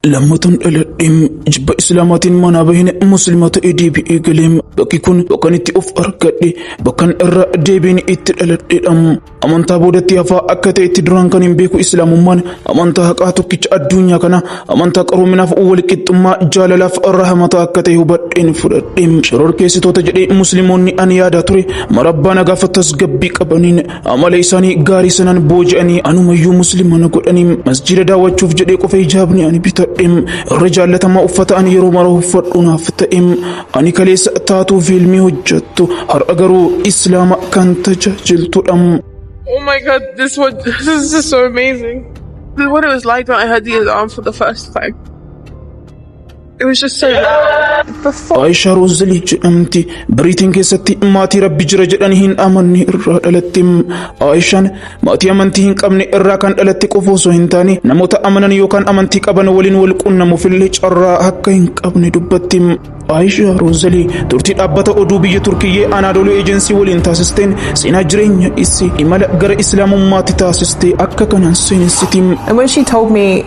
Lammatan dhaladheem jibba islaamaatiin manaa bahine muslima ta'ee deebi'ee galeem bakki kun bakkan itti of argadhe bakkan irra deebiin itti dhaladheedhaam amantaa boodatti hafaa akka ta'e itti duraan kan hin beeku islaamummaan amantaa haqaa tokkicha addunyaa kana amantaa qaroominaaf walqixxummaa jaalalaaf rahamataa akka ta'e hubadheen fudhadheem shororkeessitoota jedhee muslimoonni ani yaadaa ture marabbaa nagaaf tasgabbii qabaniin Amala isaanii gaarii sanaan booji'anii anumayyuu musliima na godhanii masjiida daawwachuuf jedhee qofa hijaabni ani bitadhe irra jaallatamaa uffata ani yeroo mara uffadhu naaf ta'e ani kaleessa taatuu fiilmii hojjettu har'a garuu islaama kan tajaajiltudha. Oh my god, this was this is so amazing. This is what it was like when I heard the Azan for the first time. It was just so before Aayishaa Roozilii jedhamti. Biriitiin keessatti maatii rabbi jira jedhanii hin amanne irraa dhalatte. Aayishaan maatii amantii hin qabne irraa kan dhalatte qofa osoo hin taane namoota amanan yookaan amantii qaban waliin wal quunnamuuf illee carraa akka hin qabne dubbatti. Aayishaa Roozilii turtii dhaabbata oduu biyya Turkiyyee Anaadooluu Eejensii waliin taasisteen seenaa jireenya isii imala gara Islaamummaatti taasiste akka kanaan seenessiti. And when she told me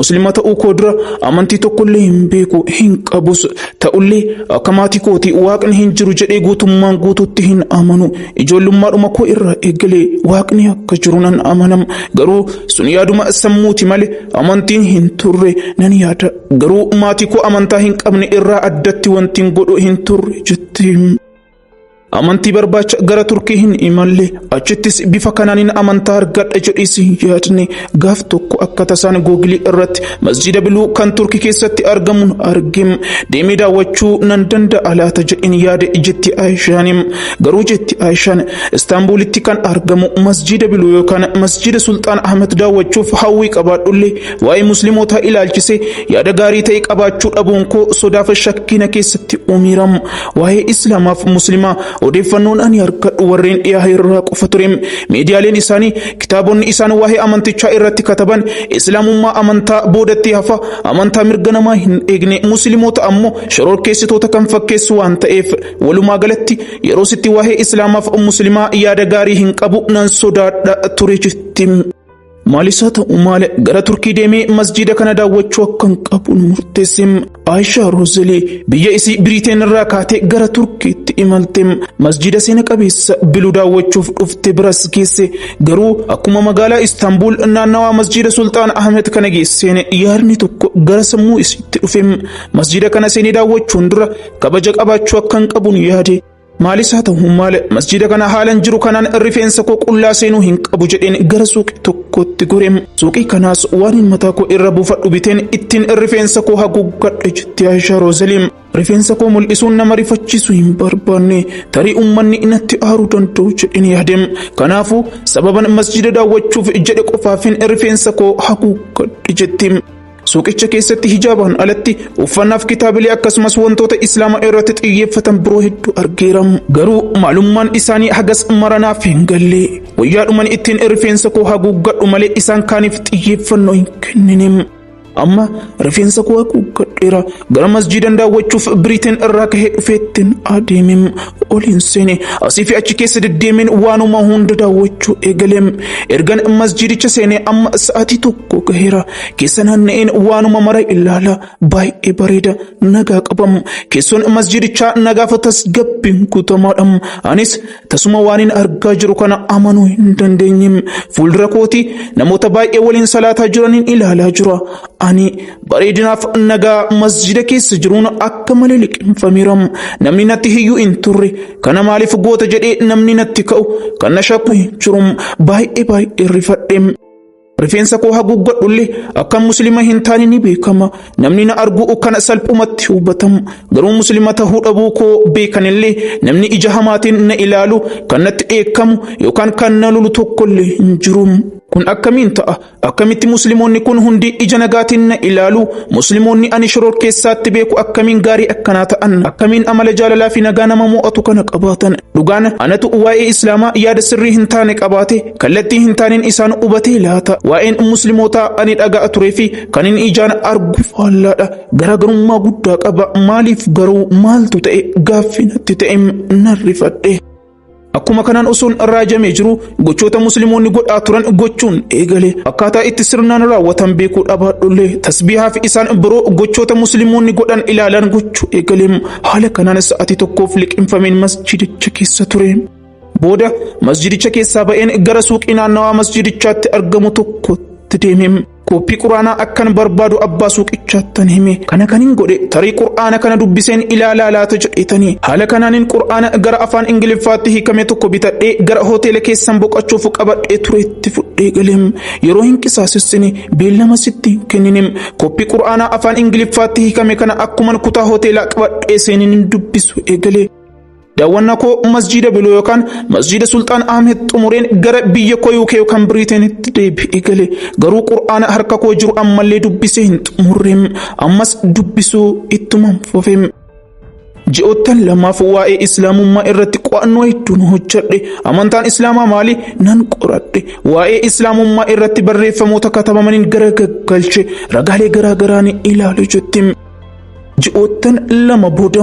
Muslima ta'uu koo dura amantii tokkollee hin beeku hin qabus ta'ullee akka maatii kooti waaqni hin jiru jedhee guutummaan guututti hin amanu ijoollummaadhuma koo irraa eegalee waaqni akka jiru nan amanam garuu sun yaaduma sammuuti malee amantiin hin turre nan yaada garuu maatii koo amantaa hin qabne irraa addatti wantiin godhu hin turre jetti. Amantii barbaacha gara Turkii hin imalle achittis bifa kanaanin amantaa argadha jedhiis yaadne gaaf tokko akka tasaan googilii irratti masjiida biluu kan Turkii keessatti argamuun arge deemee daawwachuu nan danda'a laata jedhin yaade jetti Aayishaanim garuu jetti Aayishaan Istaanbuulitti kan argamu masjiida biluu yookaan masjiida Sulxaan Ahmed daawwachuuf hawwii qabaadhullee waa'ee muslimootaa ilaalchisee yaada gaarii ta'e qabaachuu dhabuun koo sodaafa shakkina keessatti uumiiramu Waa'ee Islaamaa fi Muslimaa odeeffannoon ani harkadhu warreen dhiyaa irraa qofa ture. Miidiyaaleen isaanii kitaabonni isaan waa'ee amantichaa irratti kataban Islaamummaa amantaa boodatti hafa, amantaa mirga namaa hin eegne, Muslimoota ammoo shororkeessitoota kan fakkeessu waan ta'eef. Walumaa galatti yeroositti waa'ee Islaamaa fi Muslimaa yaada gaarii hin qabu, nan sodaadha ture jetti. Maalis haa ta'u maal gara Turkii deemee masjiida kana daawwachuu akkan qabuun murteesse. Aayishaa Roozelii biyya isii Biriteen irraa kaatee gara Turkiitti imalte. Masjiida seena qabeessa biluu daawwachuuf dhufte biras geesse. Garuu akkuma magaalaa Istaanbul naannawaa masjiida Sultaan Ahmed kana geesseen yaadni tokko gara sammuu isiitti dhufe. Masjiida kana seenee daawwachuun dura kabaja qabaachuu akkan qabuun yaade. Maalis haa ta'u maal masjiida kana haalan jiru kanaan rifeensa koo qullaa seenuu hin qabu jedheen gara suuqii tokkotti gore. Suuqii kanaas waan mataa koo irra buufadhu biteen ittiin rifeensa koo haguuggadhe jetti Aishaa Roozaliin. Rifeensa koo mul'isuun nama rifachiisu hin barbaanne tarii uummanni natti aaruu danda'u jedheen yaade. Kanaafuu sababan masjiida daawwachuuf jedhe qofaafin rifeensa koo haguuggadhe jetti. Suuqicha keessatti hijaabaan alatti uffannaaf kitaabilee akkasumas wantoota islaama irratti xiyyeeffatan biroo hedduu argeera. Garuu maalummaan isaanii hagas mara naaf hin galle. Wayyaadhuman ittiin rifeensa koo haguuggadhu malee isaan kaaniif xiyyeeffannoo hin kennine. Amma rifeensa koo haguuggadheera. Gara masjiidan daawwachuuf Biriiteen irraa kahee dhufeettiin adeeme. Oliin seene asii fi achi keessa deddeemeen waanuma hunda daawwachuu eegale. Ergan masjiidicha seenee amma sa'aatii tokko gaheera. Keessa naanna'een waanuma mara ilaala. Baay'ee bareeda. Nagaa qaba. Keessoon masjidichaa nagaafa tasgabbiin guutamaadha. Anis tasuma waanin argaa jiru kana amanuu hin dandeenye. Fuuldura kooti namoota baay'ee waliin salaataa jiraniin ilaalaa jira. Ani bareedinaaf nagaa masjida keessa jiruun akka malee liqimfameera. Namni natti hiyyuu hin turre. Kana maaliif goota jedhee namni natti ka'u. Kan na shakku hin jiru. Baay'ee baay'ee rifadhe. Rifeensa koo haguuggadhullee akkan muslima hin taane ni beekama. Namni na arguu kana salphumatti hubatamu. Garuu muslima tahuu dhabuu koo beekanillee namni ija hamaatiin na ilaalu kan natti dheekkamu yookaan kan na lolu tokkollee hin jiru. Kun akkamiin ta'a? Akkamitti muslimoonni kun hundi ija nagaatiin na ilaalu? Muslimoonni ani shororkeessaatti beeku akkamiin gaarii akkanaa ta'an? Akkamiin amala jaalalaa fi nagaa nama mo'atu kana qabaatan? Dhugaan anatu waa'ee Islaamaa yaada sirrii hin taane qabaate kallattii hin taaneen isaan hubatee laata waa'een muslimootaa ani dhaga'a turee fi kan inni ijaan argu faallaadha garaagarummaa guddaa qaba maaliif garuu maaltu ta'e gaaffinatti ta'e narrifadhe. Akkuma kanaan osoon raajamee jiru Gochoota musliimoonni godhaa turan gochuun eegale akkaataa itti sirnaan raawwatan beekuu dhabaadhullee tasbiihaa fi isaan biroo gochoota musliimoonni godhan ilaalaan gochuu eegale haala kanaan sa'atii tokkoof liqimfameen masjiidicha keessa ture. Booda masjiidicha keessaa ba'een gara suuqii naannawaa masjiidichaatti argamu tokkotti deeme. Koppii quraanaa akkan barbaadu abbaa suuqichaattan hime. Kana kanin godhe tarii qur'aana kana dubbiseen ilaalaa laata jedheetanii. Haala kanaanin qur'aana gara afaan Ingiliffaatti hiikame tokko bitadhee gara hoteela keessan boqachuuf qabadhee ture itti fudhee galeem. Yeroo hin qisaasessine beellama sitti hin kenninem. Koppii qur'aanaa afaan Ingiliffaatti hiikame kana akkuman kutaa hoteelaa qabadhee seenin dubbisu eegale. Daawwannaa koo masjiida Biloo yookaan masjiida Sulxaan Ahmed xumureen gara biyya koo UK yookaan Biriiteenitti deebi'ee gale. Garuu Qur'aana harka koo jiru ammallee dubbisee hin xumurre. Ammas dubbisuu ittuma fufe. Ji'oottan lamaaf waa'ee Islaamummaa irratti qo'annoo hedduun hojjedhe. Amantaan Islaamaa maali? Nan qoradhe. Waa'ee Islaamummaa irratti barreeffamoota katabamaniin gara gaggalche. Ragaalee garaa garaa ni ilaale jetti. Ji'oottan lama booda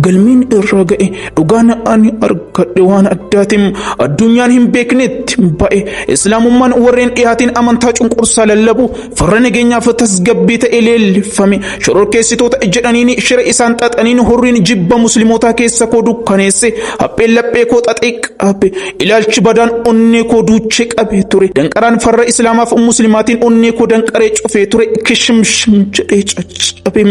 galmeen irraa ga'e dhugaan ani argadhe waan addaatiin addunyaan hin beeknetti ba'e islaamummaan warreen dhiyaatiin amantaa cunqursaa lallabu farra nageenyaaf tasgabbii ta'e leellifame shororkeessitoota jedhaniin shira isaan xaxaniin hurriin jibba muslimootaa keessa koo dukkaneesse hapheen laphee koo xaxee qabe Ilaalchi badaan onnee koo duuchee qabee ture. Danqaraan farra Islaamaaf Muslimaatiin onnee koo danqaree cufee ture. Kishimshim jedhee caccabe.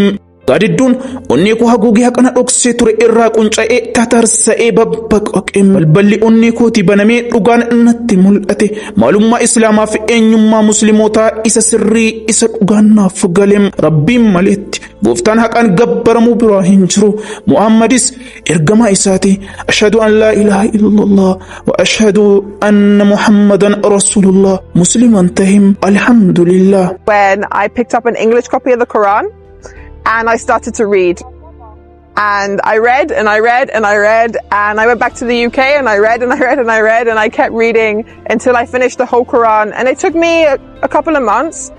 Gaadidduun onnee koo haguugee haqana dhoksee ture irraa qunca'ee tatarsa'ee babbaqaqe. Balballi onnee kootii banamee dhugaan natti mul'ate. Maalummaa Islaamaa fi eenyummaa Muslimootaa isa sirrii isa dhugaan naaf gale. Rabbiin maleetti gooftaan haqaan gabbaramuu biraa hin jiru. Muhaammadis Ergamaa isaati ashhadu an laa ilaaha illallah wa ashhadu anna muhammadan rasulullah musliman tahim alhamdulillah. When I picked up an English copy of the Quran and I started to read. And I read and I read and I read and I went back to the UK and I read and I read and I read and I kept reading until I finished the whole Quran and it took me a, a couple of months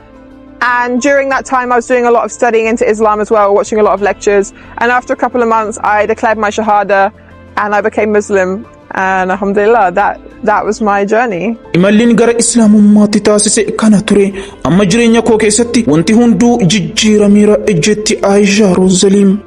And during that time, I was doing a lot of studying into Islam as well, watching a lot of lectures. And after a couple of months, I declared my Shahada and I became Muslim. And Alhamdulillah, that, that was my journey. Imalliin gara Islaamummaatti taasise kana ture. Amma jireenya koo keessatti wanti hunduu jijjiirameera ejjetti Aayishaa Roozaliim.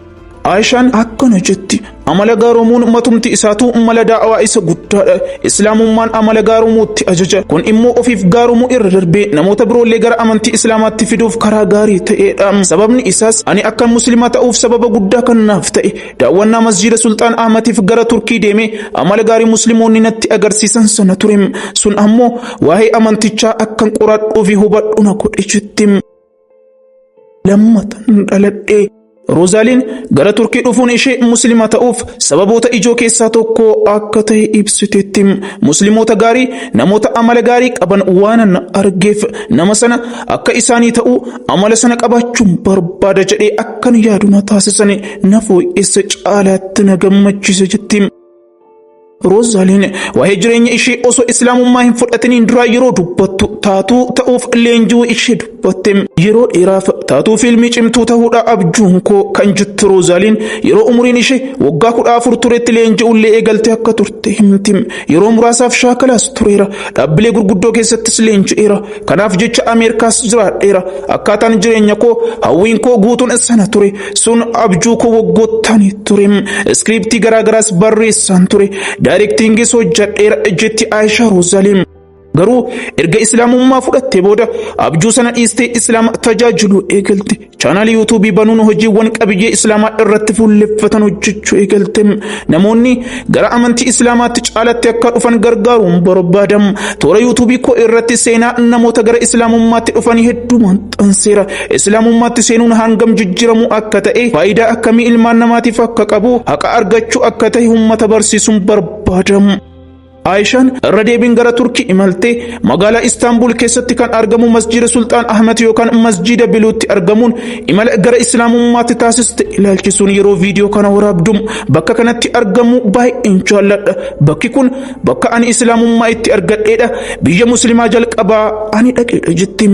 Aishaan akkana jetti amala gaaroomuun matumti isaatu mala daawaa isa guddaadha islaamummaan amala gaaroomuutti ajaja kun immoo ofiif gaaromuu irra darbee namoota biroollee gara amantii islaamaatti fiduuf karaa gaarii ta'eedha sababni isaas ani akkan muslimaa ta'uuf sababa guddaa kan naaf ta'e daawwannaa masjiida sulxaan ahmatiif gara turkii deemee amala gaarii muslimoonni natti agarsiisan sana ture sun ammoo waa'ee amantichaa akkan qoradhuu fi hubadhu na godhe jetti Lammatan dhaladhee. Roozaaliin gara Turkii dhufuun ishee Musliima ta'uuf sababoota ijoo keessaa tokko akka ta'e ibsiteetti. Musliimoota gaarii namoota amala gaarii qaban waanan argeef nama sana akka isaanii ta'u amala sana qabaachuun barbaada jedhee akkan yaadu na taasisani na fooyyessa caalaatti na gammachiise jetti. Roozaliin waa'ee jireenya ishee osoo islaamummaa hin fudhatiniin duraa yeroo dubbattu taatuu ta'uuf leenji'uu ishee dubbatte. Yeroo dheeraaf taatuu fiilmii cimtuu ta'uudha abjuun koo kan jettu Roozaliin yeroo umuriin ishee waggaa kudha afur turetti leenji'ullee eegalte akka turte himti. Yeroo muraasaaf shaakalaas tureera. Dhaabbilee gurguddoo keessattis leenji'eera. Kanaaf jecha Ameerikaas jiraadheera. Akkaataan jireenya koo hawwiin koo guutuun sana ture. Sun abjuu koo waggoottan ture. Iskiriiptii garaagaraas barreessaan ture. Daayirektiingiis hojjadheera jetti Aayishaa Roozaliin. Garuu erga Islaamummaa fudhattee booda abjuu sana dhiistee Islaama tajaajiluu eegalte. Chaanaalii yuutuubii banuun hojiiwwan qabiyyee islaamaa irratti fuulleffatan hojjechuu eegalte. Namoonni gara amantii islaamaatti caalatti akka dhufan gargaaruun barbaadam. Toora yuutuubii koo irratti seenaa namoota gara islaamummaatti dhufanii hedduu maxxanseera. Islaamummaatti seenuun hangam jijjiiramuu akka ta'e, faayidaa akkamii ilmaan namaatiif akka qabu, haqa argachuu akka ta'e uummata barsiisuun barbaadam. Aayishaan irra deebiin gara Turkii imalte magaalaa Istaanbul keessatti kan argamu masjiida Sulxaan Ahmed yookaan masjiida Biluutti argamuun imala gara Islaamummaatti taasiste ilaalchisuun yeroo viidiyoo kana waraabdu bakka kanatti argamu baay'een jaalladha. Bakki kun bakka ani Islaamummaa itti argadheedha. Biyya Musliimaa jalqabaa ani dhaqeedha jetti.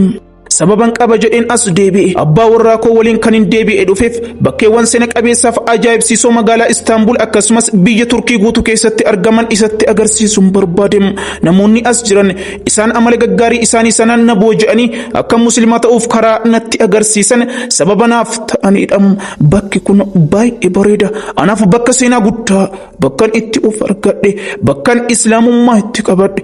Sababan qaba jedheen as deebi'e. Abbaa warraa koo waliin kan hin deebi'e dhufeef bakkeewwan seena qabeessaaf ajaa'ibsiisoo magaalaa Istaanbul akkasumas biyya Turkii guutuu keessatti argaman isatti agarsiisuun barbaade. Namoonni as jiran isaan amala gaggaarii isaanii sanaan na booji'anii akka muslimaa ta'uuf karaa natti agarsiisan sababa naaf ta'aniidha. Bakki kun baay'ee bareeda. Anaaf bakka seenaa guddaa, bakkan itti of argadhe, bakkan islaamummaa itti qabadhe,